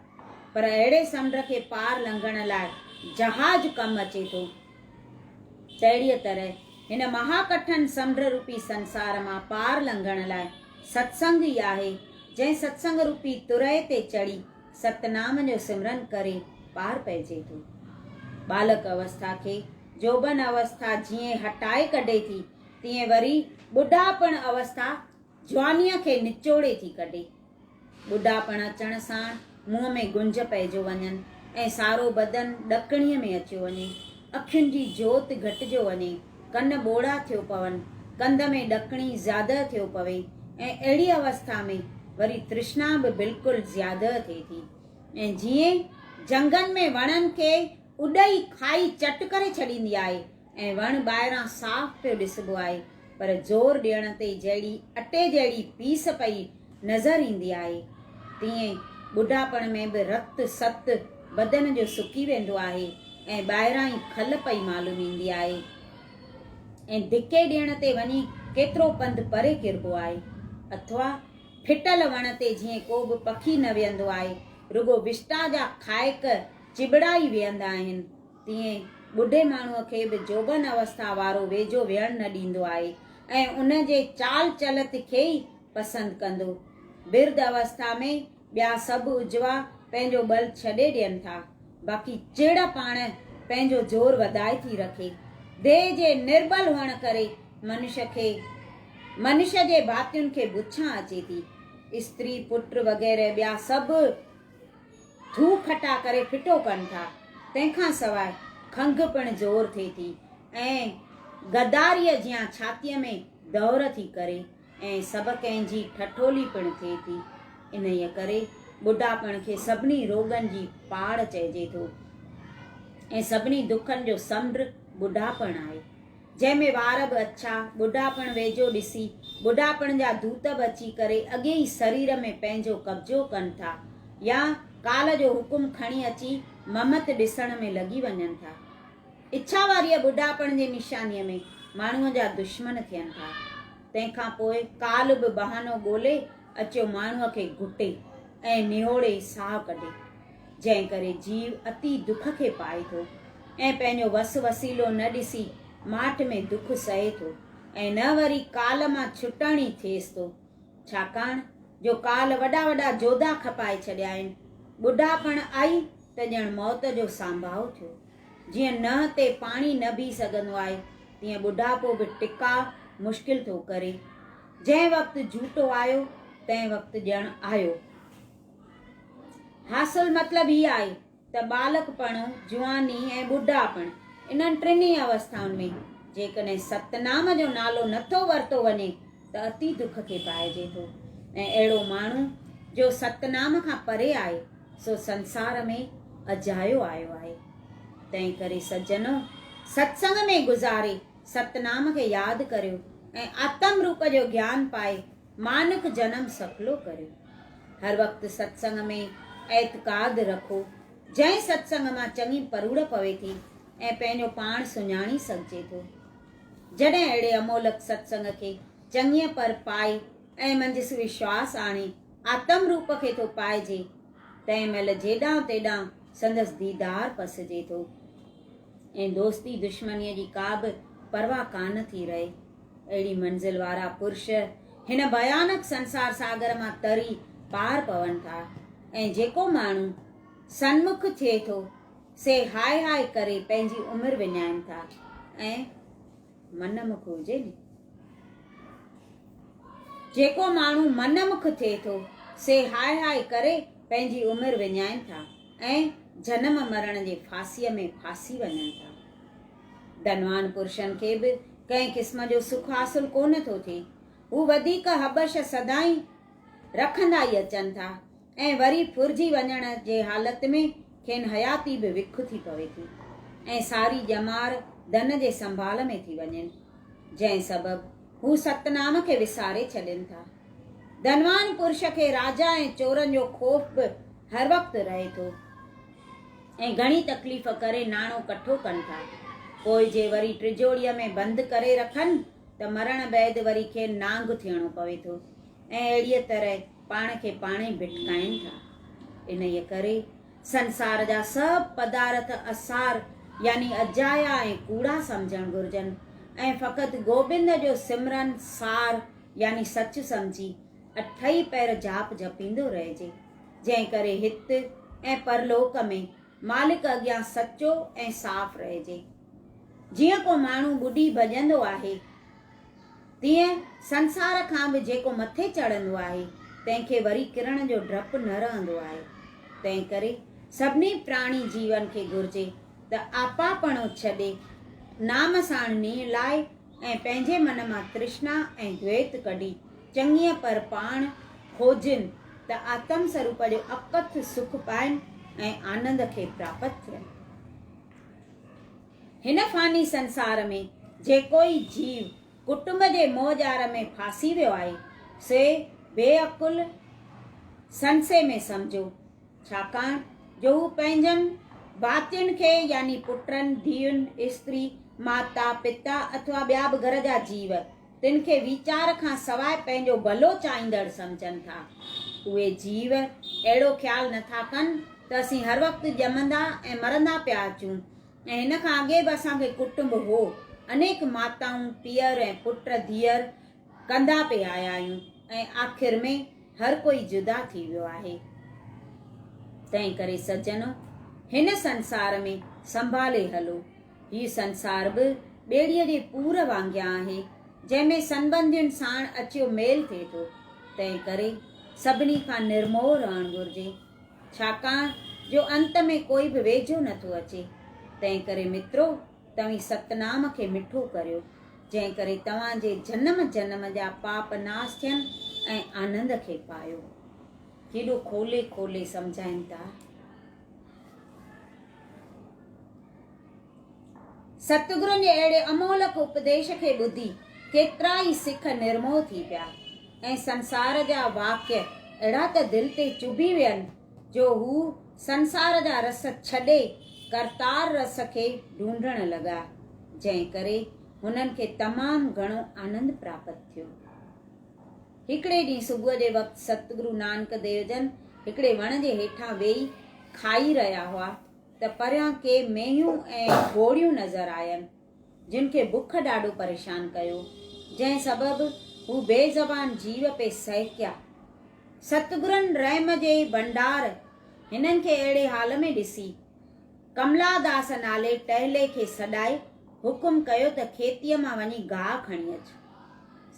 پر اهڙي سمنڊ کي پار لنگهڻ لاء جهاز ڪم اچي ٿو تهڙيء طرح هن مها ڪٺن سمنڊ روپي سنسار مان پار لنگهڻ لاء ستسنگ ئي آهي جنهن ستسنگ روپي ترئي تي چڙهي ستنام جو سمرن ڪري پار پئجي ٿو ٻالڪ اوسٿا کي جوڀن اوسٿا جيئن هٽائي ڪڍي ٿي تيئن وري ٻڍاپڻ اوسٿا جوانيء کي نچوڙي ٿي ڪڍي. ٻڍاپڻ اچڻ ساڻ منهن ۾ گنج پئجو وڃن ۽ سارو بدن ڏڪڻيء ۾ اچيو وڃي. اکين جي جوت گهٽجو وڃي، ڪن ٻوڙا ٿيو پون، ڪنڌ ۾ ڏڪڻي زياده ٿيو پوي ۽ اهڙيء اوسٿا ۾ وري ترشنا به بلڪل زياده ٿئي ٿي ۽ جيئن جهنگن ۾ وڻن کي اڏئي کائي چٽ ڪري ڇڏيندي آهي، ۽ وڻ ٻاهران صاف پيو ڏسبو آهي پر زور ڏيڻ تي جهڙي اٽي جهڙي پيس پئي نظر ايندي آهي تيئن ٻڍاپڻ ۾ به رت ست بدن جو سڪي ويندو آهي ۽ ٻاهران ئي کل پئي معلوم ايندي آهي ۽ ڌڪي ڏيڻ تي وڃي ڪيترو پنڌ پري ڪربو آهي اٿوا ڦٽل وڻ تي جيئن ڪو به پکي نه ويهندو آهي رڳو وشٽا جا کائڪ چٻڙا ئي ويهندا آهن. تيئن ٻڍي ماڻهوء کي به جوڀن اوسٿا وارو ويجهو ويهڻ نه ڏيندو آهي ۽ ان جي چال چلت کي ئي پسند ڪندو. برڌ اوسٿا ۾ ٻيا سڀ عجوا پنهنجو ٻل ڇڏي ڏين ٿا، باقي چڙ پاڻ پنهنجو زور وڌائي ٿي رکي. ديهه جي نرٻل هئڻ ڪري منش کي منش جي ڀاتين کي بڇان اچي ٿي. استري، پٽ وغيره ٻيا سڀ. ٿوڪ کٽا ڪري ڦٽو ڪن ٿا، تنهن کان سواء کنگهه پڻ زور ٿئي ٿي ۽ غداريء جيان ڇاتيء ۾ دؤر ٿي ڪري ۽ سڀ ڪنهن جي ٺٺولي پڻ ٿئي ٿي. انهيء ڪري ٻڍاپڻ کي سڀني روڳن جي پاڙ چئجي ٿو ۽ سڀني دکن جو سمنڊ ٻڍاپڻ آهي. جنهن ۾ وار به اڇا، ٻڍاپڻ ويجهو ڏسي، ٻڍاپڻ جا دوت به اچي ڪري اڳئين ئي سرير ۾ پنهنجو قبضو ڪن ٿا يا ڪال جو حڪم کڻي اچي ممت ڏسڻ ۾ لڳي وڃن ٿا. اڇا واريء ٻڍاپڻ جي نشانيء ۾ ماڻهوء جا دشمن ٿين ٿا. تنهن کان پوء ڪال به بهانو ڳولي اچيو ماڻهوء کي گهٽي ۽ نهوڙي ساهه ڪڍي. جنهن ڪري جيو اتي دک کي پائي ٿو ۽ پنهنجو وس وسيلو نه ڏسي ماٺ ۾ دک سهي ٿو ۽ نه وري ڪال مان ڇٽڻ ئي ٿئيس ٿو. ڇاڪاڻ جو ڪال وڏا وڏا جوڌا کپائي ڇڏيائين. ٻڍاپڻ آئي ته ڄڻ موت جو سانڀاء ٿيو. جيئن ننهن تي پاڻي نه بيهي سگهندو آهي تيئن ٻڍاپو به ٽڪاء مشڪل ٿو ڪري. جنهن وقت جهوٽو آيو تنهن وقت ڄڻ آيو. حاصل مطلب هي آهي ته ٻالڪپڻ، جواني ۽ ٻڍاپڻ انهن ٽنهي اوسٿائن ۾ جيڪڏهن ستنام جو نالو نه ٿو ورتو وڃي ته اتي دک کي پائجي ٿو ۽ اهڙو ماڻهو جو ستنام کان پري آهي سو سنسار ۾ اجايو آيو آهي. تنهن ڪري سجنو! ستسنگ ۾ گذاري ستنام کي ياد ڪريو ۽ آتم روپ جو گيان پائي مانڪ جنم سڦلو ڪريو. هر وقت ستسنگ ۾ اعتقاد رکو، جنهن ستسنگ مان چڱي پروڙ پوي ٿي ۽ پنهنجو پاڻ سڃاڻي سگهجي ٿو. جڏهن اهڙي امولڪ ستسنگ کي چڱيء پر پائي ۽ منجهس وشواس آڻي آتم روپ کي ٿو پائجي، تنهن مهل جيڏانهن تيڏانهن سندس ديدار پسجي ٿو ۽ دوستي دشمنيء جي ڪا به پرواهه ڪانه ٿي رهي. اهڙي منزل وارا پرش هن ڀيانڪ سنسار ساگر مان تري پار پون ٿا ۽ جيڪو ماڻهو سنمک ٿئي ٿو سي هاء هاء ڪري پنهنجي عمر وڃائين ٿا ۽ من مک هجي ني جيڪو ماڻهو من مک ٿئي ٿو سي هاء هاء ڪري پنهنجي عمر وڃائين ٿا ۽ جنم مرڻ جي ڦاسيء ۾ ڦاسي وڃن ٿا ڌنوان پرشن کي به ڪنهن قسم جو سک حاصل ڪونه ٿو ٿئي. هو وڌيڪ هٻش سدائين رکندا ئي اچن ٿا ۽ وري ڦرجي وڃڻ جي حالت ۾ کين حياتي به وک ٿي پوي ٿي ۽ ساري ڄمار ڌن جي سنڀال ۾ ٿي وڃين، جنهن سبب هو ستنام کي وساري ڇڏين ٿا. ڌنوان پرش کي راجا ۽ چورن جو خوف به هر وقت رهي ٿو. ۽ گهڻي تڪليف ڪري ناڻو ڪٺو ڪن ٿا پوء جي وري ٽجوڙيء ۾ بند ڪري رکن ته مرڻ بعد وري کين نانگ ٿيڻو پوي ٿو ۽ اهڙيء طرح پاڻ کي پاڻ ئي ڀٽڪائين ٿا انهيء ڪري سنسار جا سڀ پدارٿ اسار يعني اجايا ۽ ڪوڙا سمجهڻ گهرجن ۽ فقط گوبند جو سمرن سار يعني سچ سمجهي اٺئي پهر جاپ جپيندو رهجي جنهن ڪري هت ۽ پرلوڪ ۾ مالڪ اڳيان سچو ۽ صاف رهجي. جيئن ڪو ماڻهو ٻڏي ڀڄندو آهي، تيئن سنسار کان به جيڪو مٿي چڙهندو آهي، تنهن کي وري ڪرڻ جو ڊپ نه رهندو آهي. تنهن ڪري سڀني پراڻي جيون کي گهرجي ته آپاپڻو ڇڏي، نام ساڻ نيڻ لاء، ۽ پنهنجي من مان ترشنا ۽ دويت ڪڍي چڱيء پر پاڻ کوجين ته آتم سروپ جو اڪٿ سک پائين ۽ آنند کي پراپت ٿين. هن فاني سنسار ۾ جيڪوئي جيو ڪٽنب جي موهه ڄار ۾ ڦاسي ويو آهي، سي بي عقل سنسي ۾ سمجهو، ڇاڪاڻ جو هو پنهنجن ڀاتين کي يعني پٽن، ڌيئن، استري، ماتا، پتا اٿوا ٻيا به گهر جا جيو تن کي ويچار کان سواء پنهنجو ڀلو چاهيندڙ سمجهن ٿا. اهي جيو اهڙو خيال نه ٿا ڪن ته اسين هر وقت ڄمندا ۽ مرندا پيا اچون ۽ هن کان اڳي به اسان کي ڪٽنب هو، انيڪ ماتائون، پيئر ۽ پٽ، ڌيئر، ڪندا پئي آيا آهيون ۽ آخر ۾ هر ڪوئي جدا ٿي ويو آهي. تنهن ڪري سجنو! هن سنسار ۾ سنڀالي هلو. هي سنسار به ٻيڙيء جي پور وانگيان آهي، جنهن ۾ سنٻنڌين ساڻ اچيو ميل ٿئي ٿو. تنهن ڪري سڀني کان نرموهه رهڻ گهرجي. ڇاڪاڻ جو انت ۾ ڪوئي به ويجهو نٿو اچي. تنهن ڪري مترو! توهين ستنام کي مٺو ڪريو، جنهن ڪري توهان جي جنم جنم جا پاپ ناس ٿين ۽ آنند کي پايو. ڪيڏو کولي کولي سمجهائين ٿا. ستگرن جي اهڙي امولڪ اپديش کي ٻڌي ڪيترا ئي سک نرموهه ٿي پيا ۽ سنسار جا واڪيه اهڙا ته دل تي چڀي وين، جو هو سنسار جا رس ڇڏي ڪرتار رس کي ڍونڍڻ لڳا، جنهن ڪري هنن کي تمام گهڻو آنند پراپت ٿيو. هڪڙي ڏينهن صبح جي وقت ستگرو نانڪ ديو جن هڪڙي وڻ جي هيٺان ويهي کائي رهيا هئا ته پريان ڪي مينهيون ۽ گهوڙيون نظر آين. جن کي بک ڏاڍو پريشان ڪيو، جنهن سبب هو بي زبان جيو پئي سهڪيا. ستگرن رحم جي ڀنڊار هنن کي اهڙي حال ۾ ڏسي، ڪملاداس نالي ٽهلي کي سڏائي حڪم ڪيو ته کيتيء مان وڃي گاهه کڻي اچ.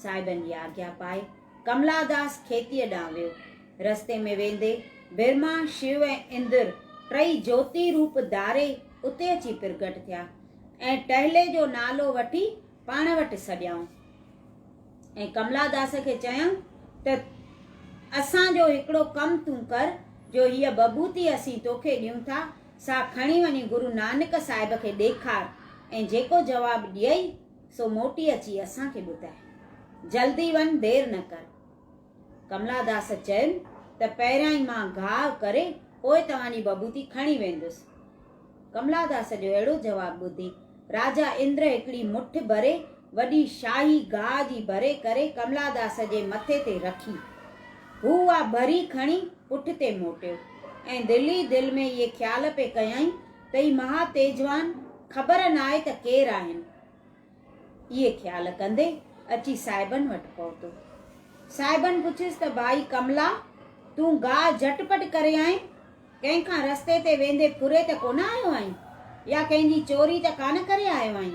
صاحبن جي آگيا پائي ڪملاداس کيتيء ڏانهن ويو. رستي ۾ ويندي برهما، شو ۽ اندر ٽئي جوتي روپ ڌاري، اتي اچي پرگٽ ٿيا ۽ ٽهلي جو نالو وٺي پاڻ وٽ سڏيائون ۽ ڪملا داس کي چيائون ته اسان جو هڪڙو ڪم تون ڪر جو هيء ببوتي اسين توکي ڏيون ٿا سا کڻي وڃي گرو نانڪ صاحب کي ڏيکار ۽ جيڪو جواب ڏيئي سو موٽي اچي اسان کي ٻڌاء. جلدي وڃ دير نه ڪر. ڪملا داس چيم ته پهريان ئي مان گهاء ڪري پوء توهان جي بڀوتي کڻي ويندس. ڪملا داس جو اهڙو جواب ٻڌي راجا اندر هڪڙي مٺ ڀري وڏي شاهي گهاء جي ڀري ڪري ڪملا داس جي مٿي تي رکي. هو اها ڀري کڻي پٺتي موٽيو ۽ دل ئي دل ۾ اهي خيال پئي ڪيائين ته هي مها تيجوان خبر ناهي ته ڪير آهن. اهي خيال ڪندي اچي صاحبن وٽ پهتو. صاحبن پڇيس ته ڀائي ڪملا تون گاهه جهٽ پٽ ڪري آئين؟ ڪنهن کان رستي تي ويندي ڦري ته ڪونه آيو آهين؟ يا ڪنهن جي چوري ته ڪانه ڪري آيو آهين؟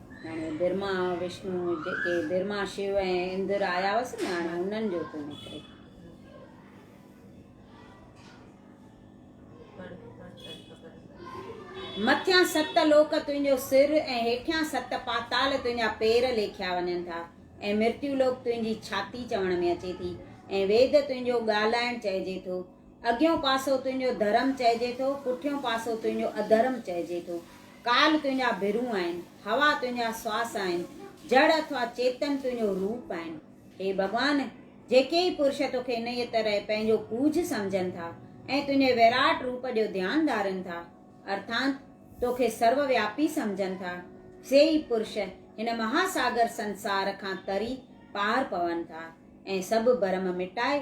هاڻي برهما وشنو جيڪي برهما شو ۽ اندر آيا هئس نه هاڻي انهن جو ٿو نڪري مٿيان ست لوڪ تنهنجو سر ۽ هيٺيان ست پاتال تنهنجا پير ليکيا وڃن ٿا ۽ مرتيو لوڪ تنهنجي ڇاتي چوڻ ۾ اچي ٿي ۽ ويد تنهنجو ڳالهائڻ چئجي ٿو اڳيون پاسو تنهنجو ڌرم چئجي ٿو، پٺيون پاسو تنهنجو اڌرم چئجي ٿو. ڪال تنهنجا ڀرون آهن، هوا تنهنجا سواس آهن، جڙ اٿوا چيتن تنهنجو روپ آهن. هي ڀڳوان! جيڪي ئي پرش توکي انهيء طرح پنهنجو ڪوجهه سمجهن ٿا ۽ تنهنجي ويراٽ روپ جو ڌيان ڌارين ٿا، ارٿانت توکي سرو وياپي سمجهن ٿا، سي ئي پرش هن مها ساگر سنسار کان تري پار پون ٿا ۽ سڀ ڀرم مٽائي،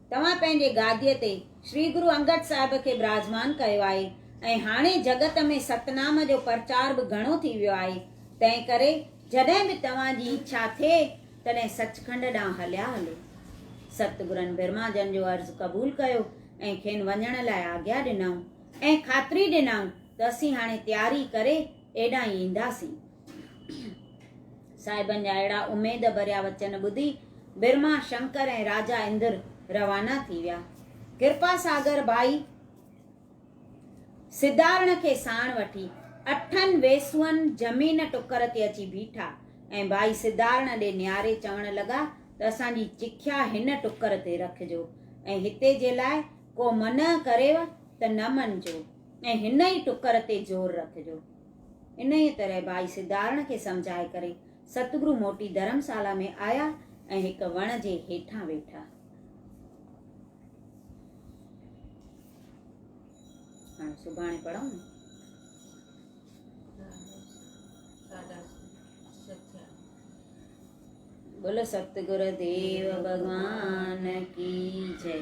توهان پنهنجي گاديء تي شري گرو انگد صاحب کي براجمان ڪيو آهي ۽ هاڻي جڳت ۾ ستنام جو پرچار به گهڻو ٿي ويو آهي، تنهن ڪري جڏهن به توهان جي اڇا ٿئي تڏهن سچکنڊ ڏانهن هليا هلو. ستگرن برهما جن جو عرض قبول ڪيو ۽ کين وڃڻ لاء آگيا ڏنائون ۽ خاطري ڏنائون ته اسين هاڻي تياري ڪري ايڏانهن ئي اينداسين. صاحبن جا اهڙا اميد ڀريا وچن ٻڌي برما شنڪر ۽ راجا اندر روانا ٿي ويا. ڪرپا ساگر ڀائي سدارڻ کي ساڻ وٺي اٺن ويسون زمين ٽڪر تي اچي بيٺا ۽ ڀائي سدارڻ ڏي نهاري چوڻ لڳا ته اسان جي چکيا هن ٽڪر تي رکجو ۽ هتي جي لاء ڪو منع ڪريو ته نه مڃجو. ۽ هن ئي ٽڪر تي زور رکجو. انهيء طرح ڀائي سڌارڻ کي سمجهائي ڪري ستگرو موٽي ڌرمسالا ۾ آيا ۽ هڪ وڻ جي هيٺان ويٺا. هاڻي سڀاڻي پڙهون نه. بولو ستگر ديو ڀڳوان ڪي جئي.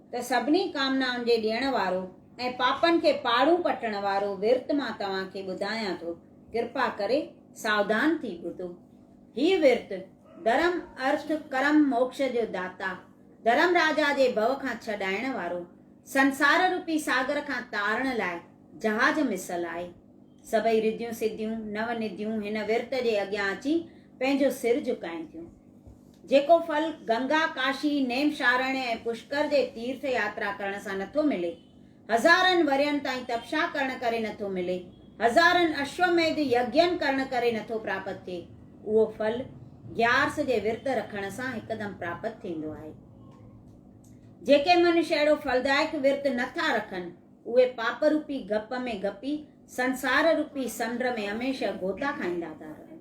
ته سڀني ڪامنائن جي ڏيڻ وارو ۽ پاپن کي پاڙون پٽڻ وارو ورت مان توهان کي ٻڌايان ٿو، ڪرپا ڪري ساوڌان ٿي ٻڌو. هي ورت ڌرم، ارٿ، ڪرم، موڪش جو داتا، ڌرم راجا جي ڀؤ کان ڇڏائڻ وارو، سنسار روپي ساگر کان تارڻ لاء جهاز مثل آهي. سڀئي رڌيون سڌيون، نو نديون هن ورت جي اڳيان اچي پنهنجو سر جهڪائين ٿيون. جيڪو ڦل گنگا، ڪاشي، نيمشارڻ ۽ پشڪر جي تيرٿ ياترا ڪرڻ سان نٿو ملي، هزارن ورهين تائين تپشا ڪرڻ ڪري نٿو ملي، هزارن اشوميڌ يگين ڪرڻ ڪري نٿو پراپت ٿئي، اهو ڦل گيارس جي ورت رکڻ سان هڪدم پراپت ٿيندو آهي. جيڪي منش اهڙو ڦلدائڪ ورت نه ٿا رکن، اهي پاپ روپي گپ ۾ گپي سنسار روپي سنڊ ۾ هميشه گوتا کائيندا ٿا رهن.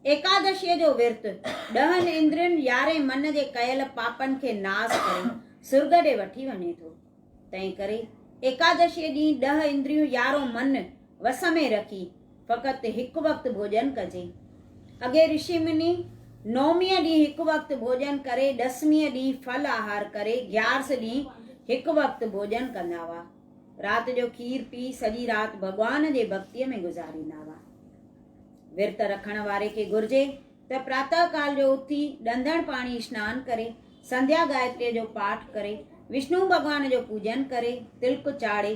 ايڪادشيء جو ورت ڏهن اندرين يارهين من جي ڪيل پاپن کي ناس ڪري سرڳ ڏي وٺي وڃي ٿو. تنهن ڪري ايڪادشيء ڏينهن ڏهه اندريون يارهون من وس ۾ رکي، فقط هڪ وقت ڀوڄن ڪجي. اڳي رشي مني نوميء ڏينهن هڪ وقت ڀوڄن ڪري، ڏسميء ڏينهن ڦل آهار ڪري، گيارس ڏينهن هڪ وقت ڀوڄن ڪندا هئا. رات جو کير پي، سڄي رات ڀڳوان جي ڀڳتيء ۾ گذاريندا هئا. ورت رکڻ واري کي گهرجي ته پراتهه ڪال جو اٿي، ڏندڻ پاڻي اسنان ڪري، سنڌيا گائتريء جو پاٺ ڪري، وشنو ڀڳوان جو پوڄن ڪري، تلڪ چاڙهي،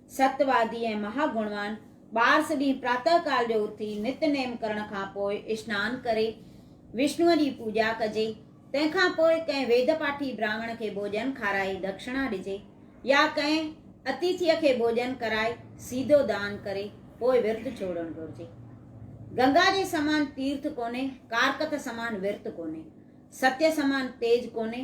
ست وادي ۽ مها گڻوان ٻارس ڏينهن پراتهه ڪال جو اٿي نت نيم ڪرڻ کان پوء اشنان ڪري وشنوء جي پوڄا ڪجي. تنهن کان پوء ڪنهن ويد پاٺي براهمڻ کي ڀوڄن کارائي دڪشنا ڏجي يا ڪنهن اتيٿيء کي ڀوڄن ڪرائي سيڌو دان ڪري پوء ورت ڇوڙڻ گهرجي. گنگا جي سمان تيرٿ ڪونهي، ڪارڪٿ سمان ورت ڪونهي، ستيء سمان تيج ڪونهي،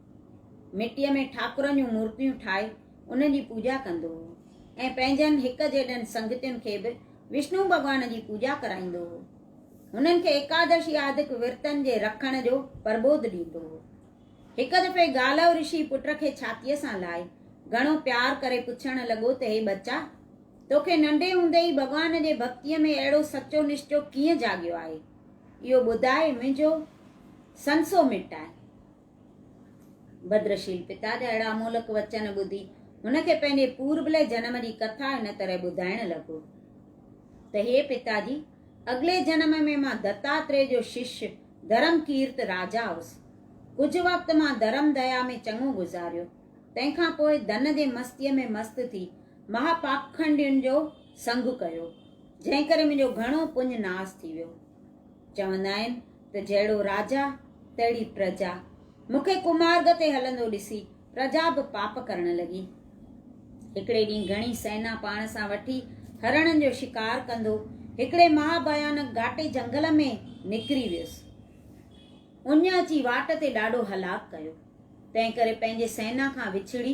مٽيء ۾ ٺاڪرن جون مورتيون ٺاهي انهن جي پوڄا ڪندو هو ۽ پنهنجن هڪ جيڏن سنگتين کي به وشنو ڀڳوان جي پوڄا ڪرائيندو هو. هنن کي ايڪادشي آدڪ ورتن جي رکڻ جو پرٻوڌ ڏيندو هو. هڪ دفعي گالهو رشي پٽ کي ڇاتيء سان لائي گهڻو پيار ڪري پڇڻ لڳو ته هي ٻچا! توکي ننڍي هوندي ئي ڀڳوان جي ڀڳتيء ۾ اهڙو سچو نشچو ڪيئن جاڳيو آهي؟ اهو ٻڌاء منهنجو سنسو مٽائي. بدرشيل پتا جا اهڙا امولڪ وچن ٻڌي هن کي پنهنجي پوربلي جنم جي ڪٿا هن طرح ٻڌائڻ لڳو ته هي پتا جي اڳلي جنم ۾ مان دتاتري جو شش ڌرم ڪيرت راجا هوس ڪجهه وقت مان ڌرم ديا ۾ چڱو گذاريو تنهن کان پوء ڌن جي مستيء ۾ مست ٿي مها پاکنڊين جو سنگ ڪيو جنهن ڪري منهنجو گهڻو پڃ ناس ٿي ويو چوندا آهن ته جهڙو راجا تهڙي پرجا، مون کي ڪمارڳ تي هلندو ڏسي پرجا به پاپ ڪرڻ لڳي. هڪڙي ڏينهن گهڻي سينا پاڻ سان وٺي هرڻن جو شڪار ڪندو هڪڙي مها ڀيانڪ گهاٽي جهنگل ۾ نڪري ويس. اڃ اچي واٽ تي ڏاڍو هلاڪ ڪيو. تنهن ڪري پنهنجي سينا کان وڇڙي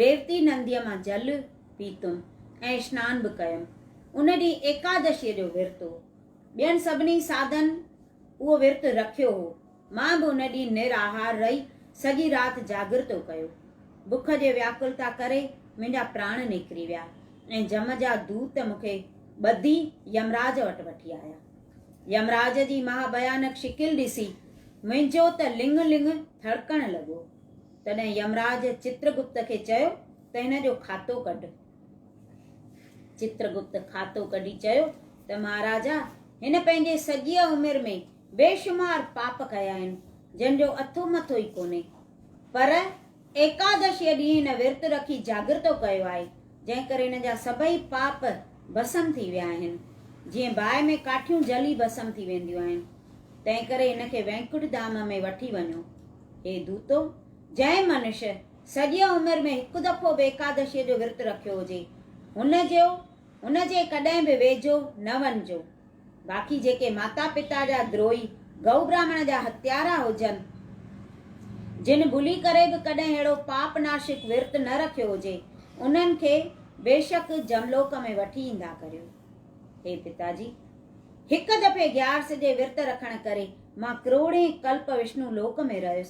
ريوتي نديء مان جل پيتم ۽ اسنان به ڪيم. ان ڏينهن ايڪادشيء جو ورت هو. ٻين سڀني ساڌن اهو ورت رکيو هو. مان به ان ڏينهن نر آهار رهي سڄي رات جاڳرتو ڪيو. بک جي وياڪلتا ڪري منهنجا پراڻ نڪري ويا ۽ جم جا دوت مون کي ٻڌي يمراج وٽ وٺي آيا. يمراج جي مها ڀيانڪ شڪل ڏسي منهنجو ته لڱ لڱ ٿڙڪڻ لڳو. تڏهن يمراج چترگپت کي چيو ته هن جو کاتو ڪڍ. چترگپت کاتو ڪڍي چيو ته مهاراجا هن پنهنجي سڄيء عمر ۾ بيشمار پاپ ڪيا آهن، جن جو اٿو مٿو ئي ڪونهي. پر ايڪادشيء ڏينهن هن ورت رکي جاڳرتو ڪيو آهي، جنهن ڪري هن جا سڀئي پاپ ڀسم ٿي ويا آهن. جيئن باهه ۾ ڪاٺيون جلي ڀسم ٿي وينديون آهن. تنهنڪري هن کي وينڪٽ ڌام ۾ وٺي وڃو. هي دوتو! جنهن منش سڄيء عمر ۾ هڪ دفعو به ايڪادشيء جو ورت رکيو هجي، هن جو هن جي ڪڏهن به ويجهو نه وڃجو. باقي جيڪي ماتا پتا جا دروهي، گئو براهمڻ جا هتيارا هجن، جن ڀلي ڪري به ڪڏهن اهڙو پاپ ناشڪ ورت نه رکيو هجي، انهن کي بيشڪ جملوڪ ۾ وٺي ايندا ڪريو. هي پتا جي! هڪ دفعي گيارس جي ورت رکڻ ڪري مان ڪروڙين ڪلپ وشنو لوڪ ۾ رهيس،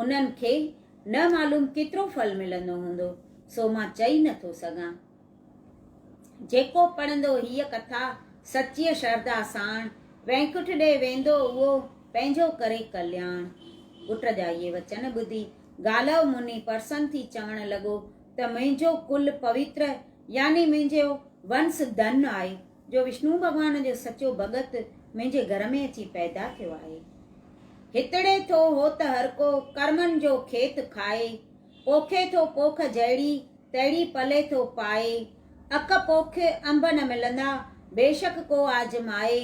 انهن کي نه معلوم ڪيترو ڦل ملندو هوندو، سو مان چئي نه ٿو سگهان. جيڪو پڙهندو هيء ڪٿا سچيء شرڌا ساڻ، وينڪٺ ڏي ويندو اهو پنهنجو ڪري ڪلياڻ. پٽ جا اهي وچن ٻڌي گالهو مني پرسن ٿي چوڻ لڳو ته منهنجو ڪل پويتر يعني منهنجو ونس ڌن آهي. جو وشنو ڀڳوان جو سچو ڀڳت منهنجي گهر ۾ اچي پيدا ٿيو آهي. هتڙي ٿو هو ته هرڪو ڪرمن جو کيت کائي، پوکي ٿو پوک جهڙي تهڙي پلي ٿو پائي، اک پوک انب نه ملندا بيشڪ ڪو آزمائي،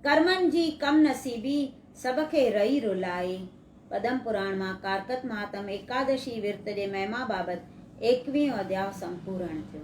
ڪرمن جي ڪم نصيبي سڀ کي رئي رلائي. پدم پراڻ مان ڪارڪت مهاتم ايڪادشي ورت جي مهما بابت ايڪويهون اڌياء سمپورڻ ٿيو.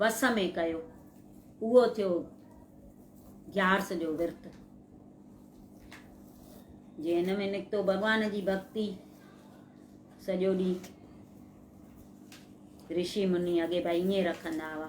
وس ۾ ڪيو، اهو ٿيو گيارس جو ورت. جي هن ۾ نڪتو ڀڳوان جي ڀڳتي سڄو ڏينهن رشي مني اڳي ڀائي ائين رکندا هئا